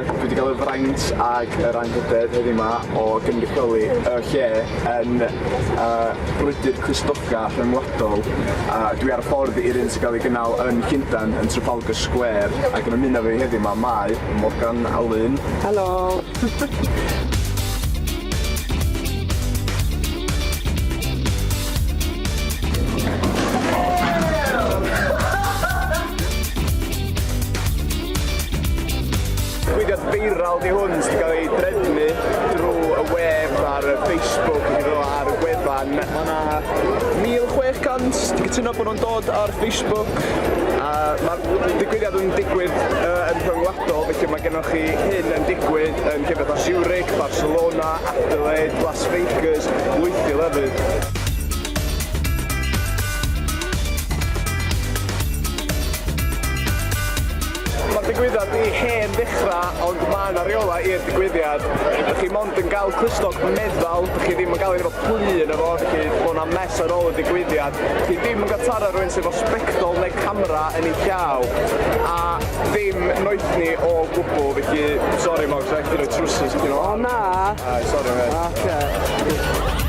Dwi wedi cael y fraint ac yr anrhydedd heddiw yma o gynrychioli y lle yn y brwydr Cristnoga rhyngwladol. Dwi ar y ffordd i'r un sy'n cael ei gynnal yn Llundain yn Trafalgar Square ac yn ymuno efo fi heddiw yma mae Morgan a Lynne. Helo! Digwyddiad feiral di hwn sydd wedi cael ei drefnu drwy y we ar Facebook iddo ar y gwefan. Mae yna 1,600 di cytuno bod nhw'n dod ar Facebook a mae'r digwyddiad yn digwydd uh, yn rhyngwladol, felly mae gennych chi hyn yn digwydd yn llefydd o Zurich, Barcelona, Adelaide, Las Vegas, Lwythi lefydd. Mae'r digwyddiad i hen ddechrau ond mae yna reolau i'r digwyddiad. Dych chi mond yn cael clustog meddal, dych chi ddim yn cael ei efo plu yn efo, felly bod yna mess ar ôl y digwyddiad. Dych chi ddim yn cael taro rhywun sydd efo sbectol neu camera yn ei llaw a ddim noethni o gwbl, felly sori Moggs, rhaid i chdi roi trwsus chdi nôl. O na! Ai, sori mate. Ocê.